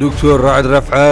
دکتۆر ڕەعد ڕەفعە،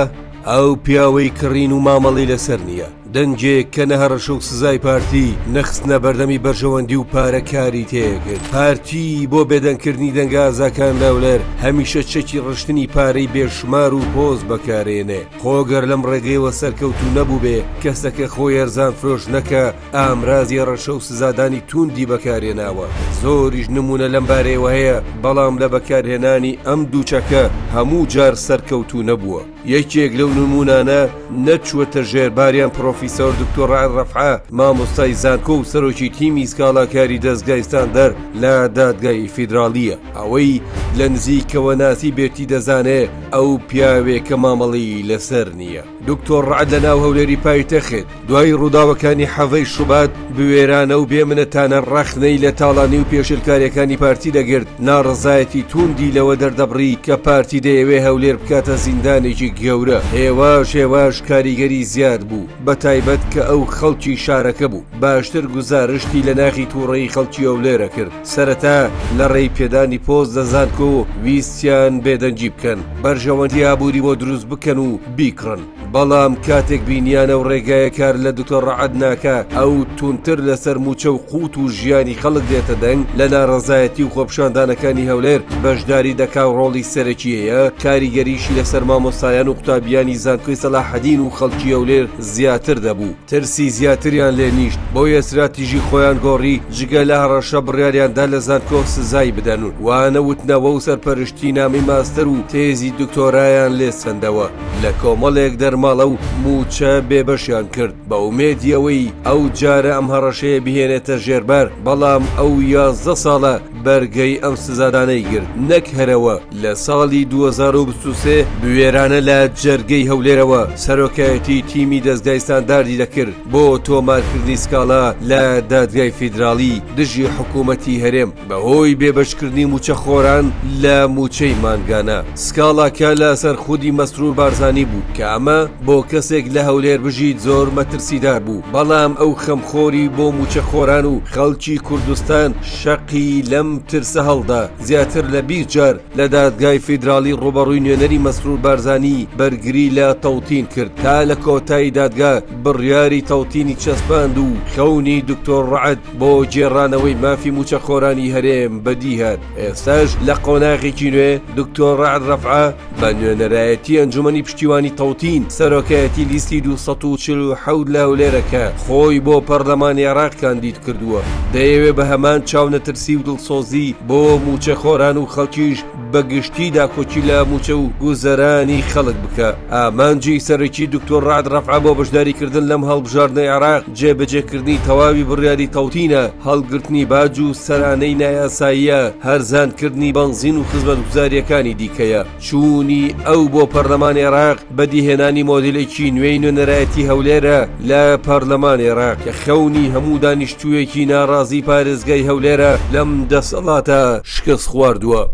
ئەو پیاوەی کڕین و مامەڵەی لەسەر نییە، دەنگێک کە نە هەڕەشە و سزای پارتی، نە خستنە بەردەمی بەرژەوەندی و پارە کاری تێکرد. پارتی بۆ بێدەنگکردنی دەنگە ئازاکان لەولەر هەمیشە چەکی ڕشتنی پارەی بێشومار و پۆست بەکارێنێ. خۆ گەر لەم ڕێگەیەوە سەرکەوتوو نەبووبێ، کەسەکە خۆ یەرزان فرۆشنەکە ئامرازی ڕەشە و سزادانی تووندی بەکارێناوە زۆریش نمونە لەم بارەیەوە هەیە بەڵام لە بەکارهێنانی ئەم دووچەکە هەموو جار سەرکەوتو نەبووە یەکێک لەو نمونانە نەچووەتە ژێرباریان پرۆفیسۆر دکتۆڕای ڕەفعە مامۆستای زانکۆ و سەرۆکی تیمی سکاڵاکاری دەستگایستان دەر لە دادگای فیدراالیە ئەوەی لە نزیکەوە ناسی بێتی دەزانێ ئەو پیاوێکە مامەڵی لەسەر نییە. دکتۆر ڕەعد لە ناو هەولێری پایتەخت دوای ڕووداوەکانی حەڤەی شوبات بوێرانە و بێ منەتانە ڕەخنەی لە تاڵانی و پێشلکارەکانی پارتی دەگرت ناڕزایەتی تووندی لەوە دەردەبڕی کە پارتی دەیەوێ هەولێر بکاتە زیندانێکی گەورە هێواش هێواش کاریگەری زیاد بوو بە تایبەت کە ئەو خەڵکی شارەکە بوو باشتر گوزارشتی لە ناخی تووڕەی خەڵکی هەولێرە کرد. سەرەتا لە ڕێی پێدانی پۆست لە زانکۆ ویستیان بێدەنگی بکەن، بەرژەوەندی ئابووری بۆ دروست بکەن و بیکڕن، بەڵام کاتێک بینیان ئەو ڕێگایە کار لە دکتۆر ڕەعد ناکا، ئەو توندتر لەسەر مووچە و قووت و ژیانی خەڵک دێتە دەنگ، لە ناڕەزایەتی و خۆپیشاندانەکانی هەولێر بەشداری دەکا و ڕۆڵی سەرەکییە، کاریگەریی لەسەر مامۆستایان و قوتابییانی زانکۆی سەلاحەدین و خەڵکی هەولێر زیاتر دەبوو. ترسی زیاتریان لێ نیشت بۆیە ستراتیژی خۆیان گۆڕی جگە لە هەڕەشە بڕیاریان دا لە زانکۆ سزای بدەن و وانە وتنەوە و سەرپەرشتی نامەی ماستەر و تێزی دکتۆرایان لێ سەندەوە لە کۆمەڵێک دەرماڵە و مووچە بێ بەشیان کرد بە ئومێدی ئەوەی ئەو جارە ئەم هەڕەشەیە بهێنێتە ژێربار بەڵام ئەو یازدە ساڵە بەرگەی ئەم سزادانەی گرت نەک هەرەوە لە ساڵی 2023 بوێرانە لە جەرگەی هەولێرەوە سەرۆکایەتی تیمی دەستگای ستانداردی دەکرد بۆ تۆمارکردنی سکاڵا لە دادگای فیدراڵی دژی حکوومەتی هەرێم بەهۆی بێبەشکردنی موچەخۆران لە موچەی مانگانە سکاڵاکە لەسەر خودی مەسرور بارزانانی بوو کە ئەمە بۆ کەسێک لە هەولێر بژیت زۆر مەترسیدار بوو بەڵام ئەو خەمخۆری بۆ موچەخۆران و خەڵکی کوردستان شەقی لەم ترسە هەڵدا، زیاتر لە بیست جار لە دادگای فیدراڵی ڕووبەڕووی نوێنەری مەسرور بارزانی بەرگری لە تەوتین کرد، تا لە کۆتایی دادگا بڕیاری تەوتینی چەسپاند و خەونی دکتۆر ڕەعد بۆ گێڕانەوەی مافی مووچەخۆرانی هەرێم بەدیهات. ئێستاش لە قۆناغێکی نوێ دکتۆر ڕەعد ڕەفعە، بە نوێنەرایەتی ئەنجومەنی پشتیوانی تەوتین، سەرۆکایەتی لیستی دوو سەد و چل و حەوت لە هەولێرە کە خۆی بۆ پەرلەمانی عێراق کاندید کردووە، دەیەوێت بە هەمان چاونەترسی و دڵسۆزی بۆ مووچەخۆران و خەڵکیش بە گشتی داکۆکی لە مووچە و گوزەرانی خەڵک بکا. ئامانجی سەرەکی دکتۆر رەعد رەفعە بۆ بەشداریکردن لەم هەڵبژاردنەی عێراق، جێبەجێکردنی تەواوی بڕیاری تەوتینە، هەڵگرتنی باج و سەرانەی نایاساییە، هەرزانکردنی بەنزین و خزمەتگوزارییەکانی دیکەیە. چوونی ئەو بۆ پەرلەمانی عێراق، بەدیهێنانی مۆدێلێکی نوێی نوێنەرایەتی هەولێرە لە پەرلەمانی عێراق، کە خەونی هەموو دانیشتوویەکی ناڕازیی پارێزگای هەولێرە لەم دەسەڵاتە شکستخواردووە.